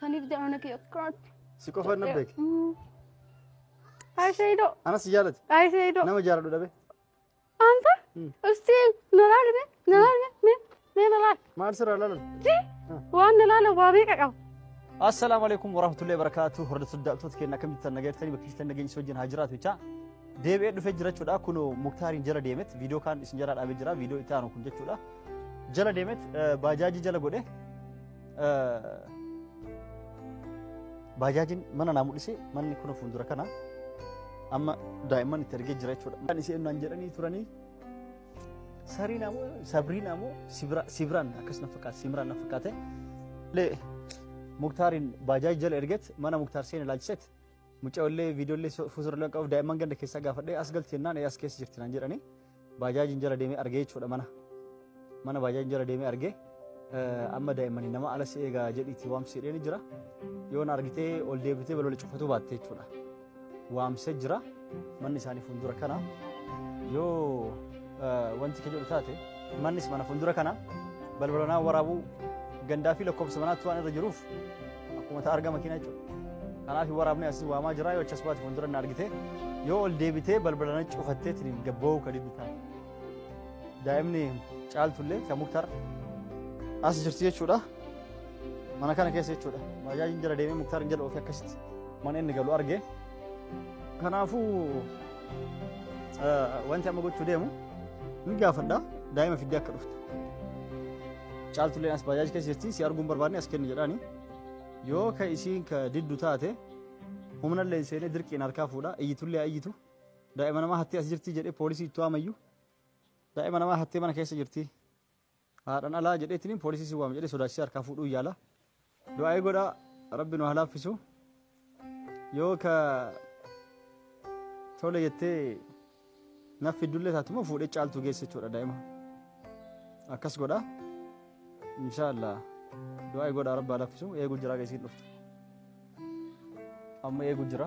Saniif jedha mana kee akkanaatti. Si qofa na beeke. Ayi Seeyido. Anas si jaalate. Ayi Seeyido. Nama jaaladhu dhabe. Anta. Ustii nalaali mee nalaali mee mee mee nalaali. Maal sirraa laalan? Jii waan nalaala waa meeqa qaba. Assalaamu alaikum warahmatullahi wabarakatuh. Hordoftoota daawwattoota keenya akkamitti tan nagaa jirtanii bakka jirtan nageenya wajjin haa jiraatu jecha deebi'ee dhufee jira jechuudha. Kun Muktaariin jala deemet viidiyoo kaan isin jala dhaabee jira viidiyoo itti aanu kun jechuudha. Jala deemet baajaajii jala godhe Baajaajiin mana naa mul'ise manni kun fuuldura kana amma daa'imman itti argee jira jechuudha. Kan isheen naan jedhanii turanii sarii naa moo sabrii naa moo sibiraan akkas na fakkaate simiraan na fakkaate. Lee muktaariin baajaaj jala erget mana muktaar seen ilaalchiset mucaa illee viidiyoo illee fuuldura illee qabu daa'imman ganda keessaa gaafadhee as galti jennaan as keessa jirti naan jedhanii. Baajaajiin jala deemee arge jechuudha mana. Mana baajaajiin jala deemee arge. Amma daa'immanii nama ala si eegaa jedhiitii waamsi jedheen jira. Yoo na argitee ol deebitee balbala cufatuu baatte jechuudha. Waamsee jira manni isaanii fuuldura kana. Yoo wanti kee jedhu taate mannis mana fuuldura kana balbalanaa waraabuu gandaa fi lakkoofsa manaatti waan irra jiruuf Akkuma ta'a argama kina jechuudha. Kanaaf waraabni asii waamaa jira yoo achas baate fuuldura na argite yoo ol deebitee balbala na cufattee tiriin gabba'uu kan inni taate. Daa'imni caaltullee kan muktar as jirti jechuudha. Mana kana keessa jechuudha. Baajaajiin jala deemee muktar jala ofii akkasitti mana inni galu arge. Kanaafuu wanti amma gochuu deemu ni gaafadha daa'ima fiddee akka dhuftu. Caaltuleen as baajaaj keessa jirti si arguun barbaadne as kenni jedhaani. Yoo ka isiin ka diddu taate humna illee seenee dirqiin harkaa fuudha iyyitullee haa iyyitu daa'ima namaa hattee as jirti jedhee poolisii itti waamayyu daa'ima namaa hattee mana keessa jirti haadhan alaa jedheetiin poolisii si waama jedhee sodaachisee harkaa fuudhuu yaala Du'aa'ii godha rabbi nu halaaffisu yoo ka tole jettee naf fiddullee taatuma fuudhee caaltuu geesse jechuudha daa'ima akkas godha inshaallah du'aa'ii godha rabbi halaaffisu eeguu jira geessiin dhuftu amma eeguu jira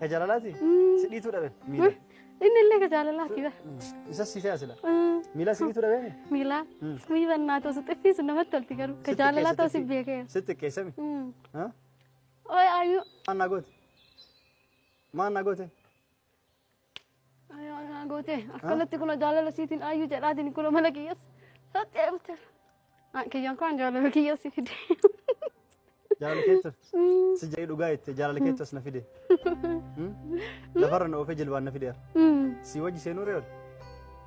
Ka jaalalaati? Si dhiituu dhabe miila. Inni illee ka jaalalaati bara. Isas si fe'a sila. Miila si dhiituu dhabe? Miila. Mii bannaa ta'u si xiffiisu namatti tolti garuu. Ka jaalalaa ta'u si beekee. Si xiqqeessami. Oye ayu. Maal naa goote? Maal naa goote? Ayyaa gootee akkanatti kun jaalala siitiin ayyuu jedhaatiin kun mana kiyyas satti eegulte. Kiyyaan kun jaalala kiyyas si fide. Jaalala keessa si jedhee dhugaa jette jaalala keessas na fide. Lafarra na oofee jilbaan na fideera. Si wajji seenuu reera.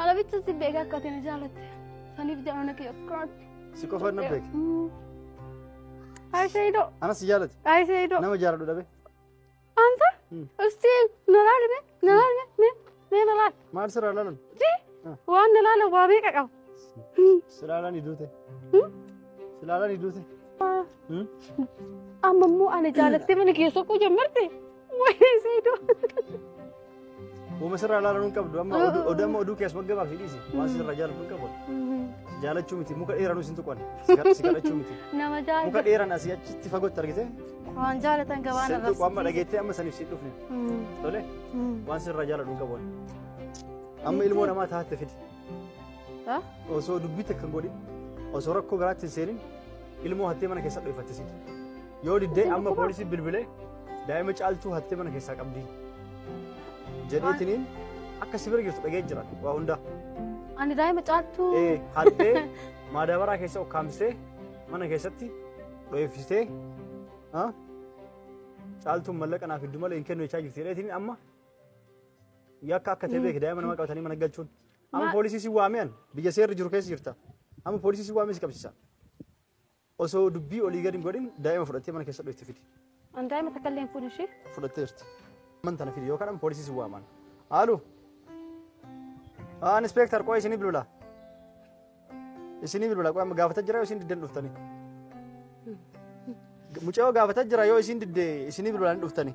Ana bicha si beeka akka ati na jaalatte. Saniif jaalala kee akkanaatti. Si qofa na beeka. Ayi Saidoo. Ana si jaalate. Ayi Saidoo. Nama jaaladhu dhabe. Anta. Isti na laali mee na laali mee mee mee na laali. Maal sirraa laalan? Ji waan na laala waa meeqa qaba. Si laalan iduute. Si laalan iduute. Amma immoo ana jaalattee mana keessoo koo jammarte. ወይኔ ሰይዶ Uuma sirraa ilaalan hin qabdu amma oduu oduu amma oduu keessa waggaa fi dhiisi waan sirraa jaalatu hin qabu jaalachuu miti muka dheeranuu isin tuqan si kadhachuu miti nama muka jaalatan dheeran asii achitti fagootti argite waan jaalatan gabaan sin tuqu amma dhageettee amma saniif si dhufne tole waan sirraa jaalatu hin qabu amma ilmoo namaa taate fidi Osoo dubbii takka hin godhin osoo rakkoo biraatti hin seenin ilmoo hattee mana keessa dho'ifattisiiti. Yoo diddee amma poolisii bilbilee daa'ima caaltuu hattee mana keessaa qabdi. Jedheetiniin akka si bira jirtu dhagee jira waa hundaa. Ani daa'ima caaltuu. Ee hattee maadaabaraa keessa ukkaamsitee mana keessatti dho'ifsitee caaltuun mallaqa naaf fiddu malee hin kennu jechaa jirti jedheetiniin amma Yakka akka ta'e beeki daa'ima nama qabatanii mana galchuun. Amma Ma- poolisii si waamee an biyya seerri jiru keessa jirta. Amma poolisii si waamee si qabsiisa. Osoo dubbii olii gadi hin godhin daa'ima fudhattee mana keessa dhoofti fidi. An daa'ima takka illee hin fuudhu ishee. Fudhattee jirti. Mana tana fidi yookaan amma poolisii si waaman. Haalu. Haa inspektar qo'a isinii bilbila. Isinii bilbila qo'a amma gaafata jira yoo isin diddan dhuftanii. Mucayoo gaafata jira yoo isin didde isinii bilbilaan dhuftanii.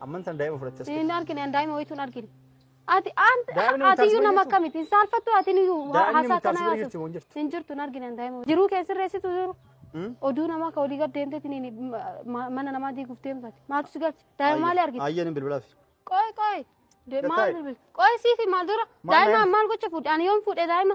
Amman tan daa'ima fudhatte as Hin keessatti. argine an daa'ima wayitu hin argine. Ati an- Daa'imni ati iyyuu mutaasuma nama jirtu. akkamitti hin saalfattu ati iyyuu ha- Daa'imni haasaa mutaasuma kanaa jirti moo hin jirtu? Hin jirtu hin argine an daa'ima. Jiruu kee sirreessitu jiru. Hmm? Oduu namaa ka olii gad deemteeti ni- ni- ma- mana namaa diiguuf deemtati. Maaltu si galche? Daa'ima maali argite? Ayyeen hin bilbilaaf. Qoy qoy. De- Maal Lakkaa'e. bilbil? Qoy siifi maal dura? Maal Daa'ima daa'ima? maal gocha fuudhe? Ani yoom fuudhe daa'ima?